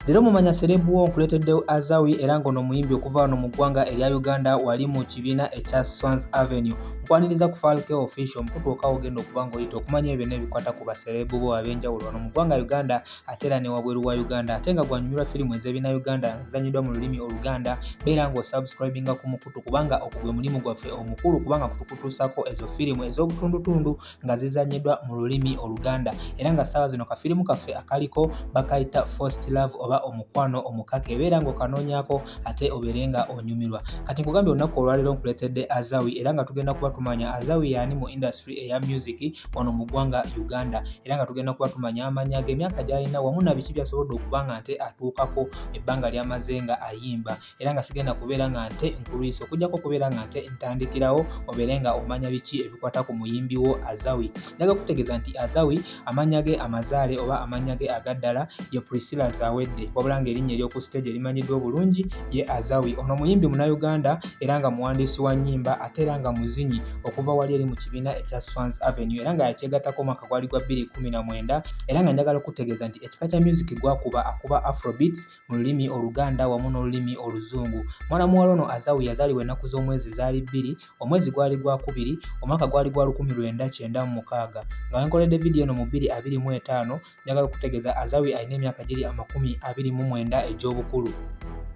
Leero mumanya serebu wo nkuleeteddewo Azawi era ng'ono muyimbi okuva wano mu ggwanga erya Uganda wali mu kibiina ekya Swans Avenue nkwaniriza ku Falke Official omukutu okawo ogenda okuba ng'oyita okumanya ebyo n'ebikwata ku baserebu bo ab'enjawulo wano mu ggwanga Uganda ate era ne wabweru wa Uganda ate nga gwanyumirwa firimu ez'ebina Uganda nga zizanyiddwa mu lulimi Oluganda beera ng'osubscribinga ku mukutu kubanga ogwo gwe mulimu gwaffe omukulu kubanga kutukutuusako ezo firimu ez'obutundutundu nga zizannyidwa mu lulimi oluganda era nga ssaawa zino kafirimu kaffe akaliko bakayita first love oba omukwano omukaka ebeera ng'okanoonyako ate obeere nga onyumirwa kati nkugambye olunaku olwaleero nkuleetedde azawi era nga tugenda kuba tumanya azawi yaani mu industry eya music wano mu ggwanga uganda era nga tugenda kuba tumanya amanya ge emyaka gy'alina wamu na biki byasobodde okuba nga nte atuukako ebbanga ly'amaze nga ayimba era nga sigenda kubeera nga nte nkulwisa okujjako okubeera nga nte ntandikirawo obeere nga omanya biki ebikwata ku muyimbi wo azawi njaga kutegeeza nti azawi amannya ge amazaale oba amannya ge agaddala ye priscilla zawedde wabula nga erinnya ery'oku siteegi erimanyiddwa obulungi ye azawi ono muyimbi munauganda era nga muwandiisi wa nnyimba ate era nga muzinyi okuva wali eri mu kibiina ekya swans avenue era nga yakyegattako omwaka gwali gwa 219 era nga njagala okutegeeza nti ekika kya music gwakuba akuba afrobeats mu lulimi oluganda wamu n'olulimi oluzungu mwana muwala ono azawu yazaalibwa ennaku z'omwezi zaali bbiri omwezi gwali gwakubiri omwaka gwali gwa lukumi lwenda kyenda mu mukaaga nga wenkoledde vidiyo eno mu bbiri abiri mu etaano njagala okutegeeza azawi alina emyaka giri amakumi abiri mu mwenda egy'obukulu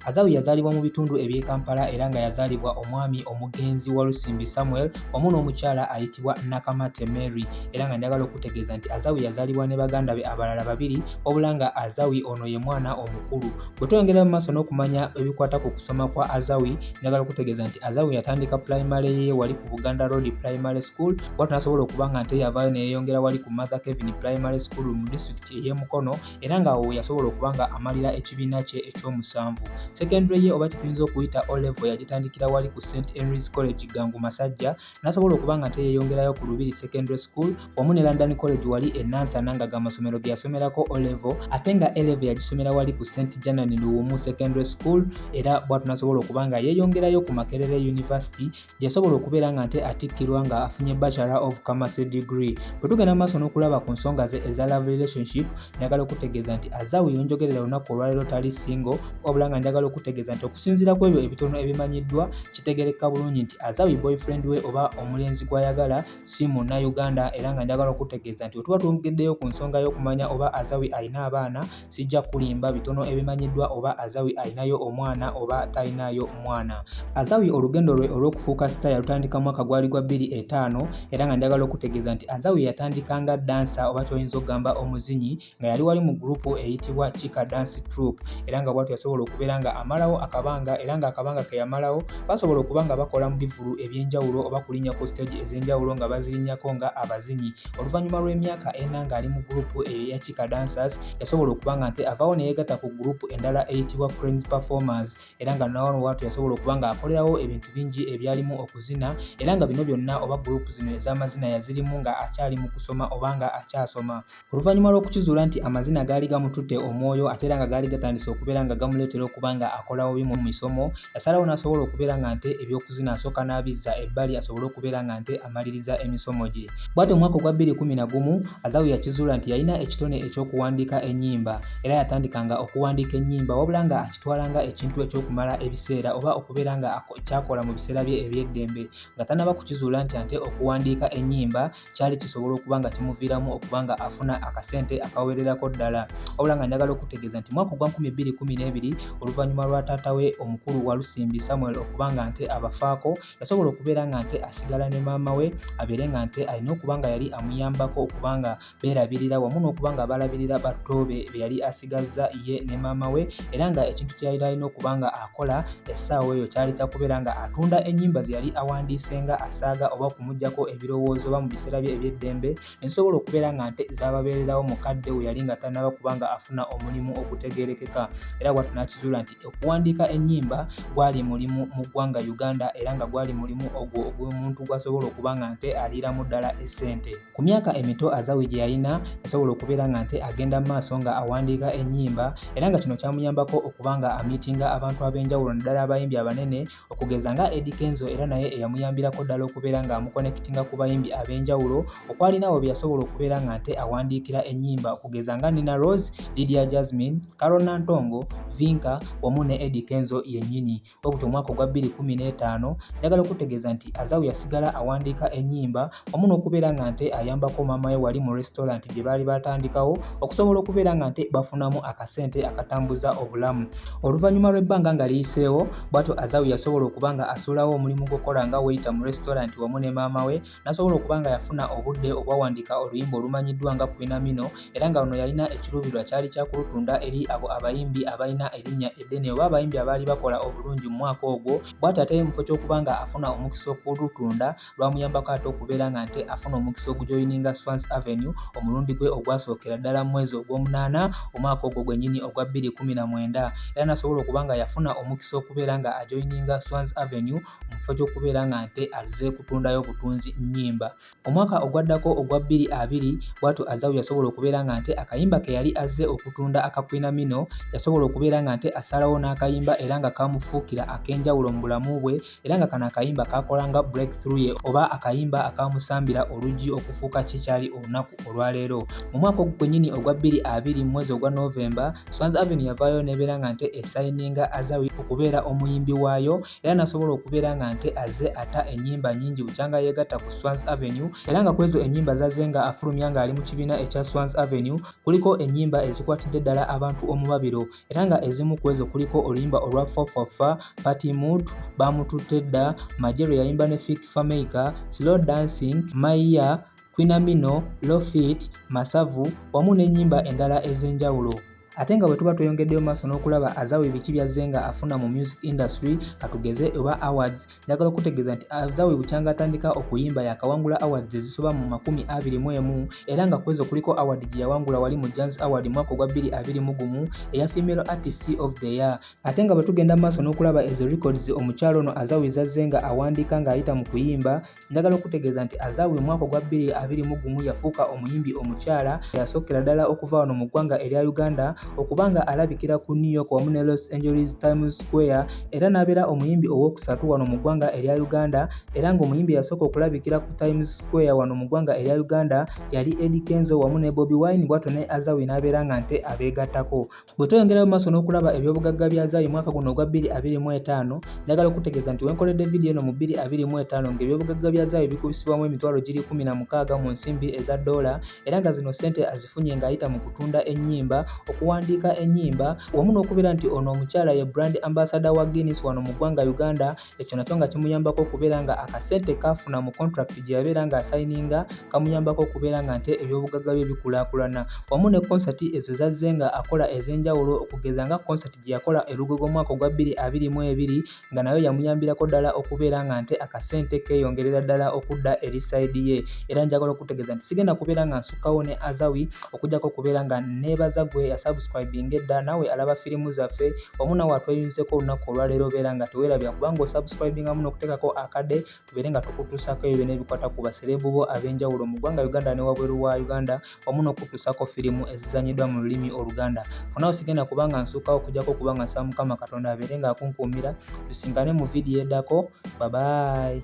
Azawu yazaalibwa mu bitundu eby'e Kampala era nga yazaalibwa omwami omugenzi Walusimbi Samuel wamu n'omukyala ayitibwa Nakamate Mary era nga njagala okutegeeza nti Azawu yazaalibwa ne baganda be abalala babiri wabula nga azawi ono ye mwana omukulu bwe tweyongera mu maaso n'okumanya ebikwata ku kusoma kwa azawi njagala okutegeeza nti azawi yatandika pulayimale ye wali ku buganda road primary school watu nasobola okuba nga nte yavaayo neyeyongera wali ku mother kevin primary school mu disitulikiti ey'emukono era nga awo yasobola okuba nga amalira ekibiina kye ekyomusanvu secondary ye oba kyetuyinza okuyita olevo yagitandikira wali ku st henrys college gangu masajja nasobola okuba nga teyeyongerayo ku lubiri secondary school wamu ne london college wali enansana nga gamasomero geyasomerako olevo ate nga elevo yagisomera wali ku st janan luwumu secondary school era bwatu nasobola okuba nga yeyongerayo ku makerere university gyeyasobola okubeera nga nte atikkirwa nga afunye bachelor of commerce degree bwe tugenda mu maaso n'okulaba ku nsonga ze eza love relationship njagala okutegeeza nti azawu yonjogerera olunaku olwaleero tali single wabula nga njagala okutegeeza nti okusinziira ku ebyo ebitono ebimanyiddwa kitegerekka bulungi nti azawi boyfriend we oba omulenzi gw'ayagala si munnayuganda era nga njagala okutegeeza nti wetuba twongeddeyo ku nsonga y'okumanya oba azawi alina abaana sijja kulimba bitono ebimanyiddwa oba azawi alinayo omwana oba talinayo mwana azawi olugendo lwe olw'okufuuka sita yalutandika mwaka gwali gwa bbiri etaano era nga njagala okutegeeza nti azawi yatandika nga dansa oba kyoyinza okugamba omuzinyi nga yali wali mu gurupu eyitibwa Chika Dance Troop era nga bwatu yasobola okubeera nga amalawo akabanga era nga akabanga ke yamalawo basobola okuba nga bakola mu bivulu eby'enjawulo oba kulinnya ku siteegi ez'enjawulo nga bazirinnyako nga abazinyi oluvannyuma lw'emyaka ena ng'ali mu gurupu eyo ya Chika Dancers yasobola okuba nga nte avaawo ne yeegatta ku gurupu endala eyitibwa Cranes Performers era nga nawano bwatu yasobola okuba nga akolerawo ebintu bingi ebyalimu okuzina era nga bino byonna oba gurupu zino ez'amazina yazirimu nga akyali mu kusoma oba nga akyasoma. oluvannyuma lw'okukizuula nti amazina gaali gamututte omwoyo ate era nga gaali gatandise okubeera nga gamuleetera okuba nga akola bubi mu misomo yasalawo n'asobola okubeera nga nte ebyokuzina asooka n'abizza ebbali asobole okubeera nga nte amaliriza emisomo gye bwati omwaka ogwa 211 azawu yakizuula nti yalina ekitone eky'okuwandiika ennyimba era yatandikanga okuwandiika ennyimba wabula nga akitwala nga ekintu eky'okumala ebiseera oba okubeera nga kyakola mu biseera bye eby'eddembe nga tanaba kukizuula nti ate okuwandiika ennyimba kyali kisobola okuba nga kimuviiramu okuba nga afuna akasente akawererako ddala wabula nga njagala okutegeeza nti mwaka ogwa 212 oluvannyuma lwa taata we omukulu walusimbi samuel okuba nga nte abafaako yasobola okubeera nga nte asigala ne maama we abeere nga nte alina okuba nga yali amuyambako okuba nga beerabirira wamu n'okuba nga balabirira batoobe be yali asigazza ye ne maama we era nga ekintu kye yali alina okuba nga akola essaawa eyo kyali kya kubeera nga atunda ennyimba ze yali awandiise nga asaaga oba okumugyako ebirowoozo oba mu biseera bye eby'eddembe ne zisobola okubeera nga nte zaababeererawo mu kadde we yali nga tannaba kuba nga afuna omulimu ogutegeerekeka era watu n'akizuula nti okuwandiika ennyimba gwali mulimu mu ggwanga uganda era nga gwali mulimu ogwo ogw'omuntu gw'asobola okuba nga nte aliiramu ddala essente Ku myaka emito Azawi gye yalina yasobola okubeera nga nte agenda mu maaso nga awandiika ennyimba era nga kino kyamuyambako okuba nga amiitinga abantu ab'enjawulo naddala abayimbi abanene okugeza nga Eddy Kenzo era naye eyamuyambirako ddala okubeera nga amukonekitinga ku bayimbi ab'enjawulo okwalinawo bye yasobola okubeera nga nte awandiikira ennyimba okugeza nga Nina Rose, Lydia Jasmine, Carol Nantongo, Vinka wamu ne Eddy Kenzo yennyini. Obuto omwaka ogwa 2015 njagala okutegeeza nti Azawu yasigala awandiika ennyimba wamu n'okubeera nga nte ayambako maama we wali mu restaurant gye baali baatandikawo okusobola okubeera nga nte bafunamu akasente akatambuza obulamu oluvannyuma lw'ebbanga nga liyiseewo bwatyo Azawu yasobola okuba nga asuulawo omulimu gw'okukola nga weyita mu restaurant wamu ne maama we nasobola okuba nga yafuna obudde obwawandiika oluyimba olumanyiddwa nga kwinamino era nga luno yalina ekiruubirirwa kyali kyakulutunda eri abo abayimbi abalina erinnya eddene oba abayimbi abaali bakola obulungi mu mwaka ogwo bwati ate mufo ky'okuba nga afuna omukisa okulutunda lwamuyambako ate okubeera nga nte afuna omukisa ogujoyininga swans avenue omulundi gwe ogwasookera ddala mu mwezi ogw'omunaana omwaka ogwo gwennyini ogwa 219 era nasobola okuba nga yafuna omukisa okubeera nga ajoyininga swans avenue mu kifo ky'okubeera nga nte azze kutundayo butunzi nnyimba. Omwaka ogwaddako ogwa bbiri abiri bw'atyo Azawi yasobola okubeera nga nte akayimba ke yali azze okutunda aka Kwinamino yasobola okubeera nga nte asalawo n'akayimba era nga kaamufuukira ak'enjawulo mu bulamu bwe era nga kano akayimba kaakola nga break through ye oba akayimba akaamusambira oluggi okufuuka kye kyali olunaku olwaleero. Mu mwaka ogwo gwennyini ogwa bbiri abiri mu mwezi ogwa November, Swans Avenue yavaayo n'ebeera nga nte esayininga Azawi okubeera omuyimbi waayo era nasobola okubeera nga nte aze ata enyimba nyingi bukyanga yegatta ku Swans Avenue era nga kwezo enyimba zaze nga afulumya nga ali mu kibiina ekya Swans Avenue kuliko enyimba ezikwatidde ddala abantu omubabiro era nga ezimu kwezo kuliko oluyimba olwa fofafa party mood bamututte dda majero yayimba ne fik fameica slow dancing maiya kwinamino lofit masavu wamu n'enyimba endala ez'enjawulo ate nga bwetuba tweyongeddeyo maaso n'okulaba azawe biki byazze nga afuna mu music industry katugeze oba awards njagala okutegeeza nti azawe bukyanga atandika okuyimba yakawangula awards ezisoba mu makumi abiri mu emu era nga kwezo kuliko award gye yawangula wali mu jans award mwaka ogwa bbiri abiri mu gumu eya female artist of the year ate nga bwetugenda maaso n'okulaba ezo records omukyalo ono azawe zazze nga awandiika ng'ayita mu kuyimba Njagala okutegeeza nti Azawi mu mwaka ogwa 2021 yafuuka omuyimbi omukyala eyasookera ddala okuva wano mu ggwanga erya Uganda okuba nga alabikira ku New York wamu ne Los Angeles Times Square era n'abeera omuyimbi owookusatu wano mu ggwanga erya Uganda era ng'omuyimbi eyasooka okulabikira ku Times Square wano mu ggwanga erya Uganda yali Eddy Kenzo wamu ne Bobi Wine bwatyo ne Azawi n'abeera nga nte abeegattako. Bwe tweyongerayo mu maaso n'okulaba ebyobugagga bya Zaayi mwaka guno ogwa 2025, njagala okutegeeza nti we nkoledde vidiyo eno mu 2025 ng'ebyobugagga bya Zaayi bikubisibwamu emitwalo giri 16 mu nsimbi eza doola era nga zino ssente azifunye ng'ayita mu kutunda ennyimba, okuwandiika ennyimba wamu n'okubeera nti ono omukyala ye brand ambasada wa Guinness wano mu ggwanga Uganda ekyo nakyo nga kimuyambako okubeera nga akasente kaafuna mu contract gye yabeera nga asayininga kamuyambako okubeera nga nte ebyobugagga bye bikulaakulana wamu ne konsati ezo zazze nga akola ez'enjawulo okugeza nga konsati gye yakola erugogo omwaka ogwa bbiri abiri mu ebiri nga nayo yamuyambirako ddala okubeera nga nte akasente keeyongerera ddala okudda eri sayidi ye era njagala okutegeeza nti sigenda kubeera nga nsukkawo ne azawi okujjako okubeera nga neebaza gwe yasubscribinga edda nawe alaba firimu zaffe omu nawe atweyunzeko olunaku olwaleero obeera nga tewerabira kubanga osubscribingamu n'okuteekako akade tubeere nga tukutuusako ebyo byona ebikwata ku basereebu bo ab'enjawulo mu ggwanga uganda ne wabweru wa uganda omu n'okutuusako firimu ezizanyiddwa mu lulimi oluganda fonawo sigenda kubanga nsuukawo okujjako okuba nga nsaba mukama katonda abeere nga akunkuumira tusingane mu vidiyo edako babayi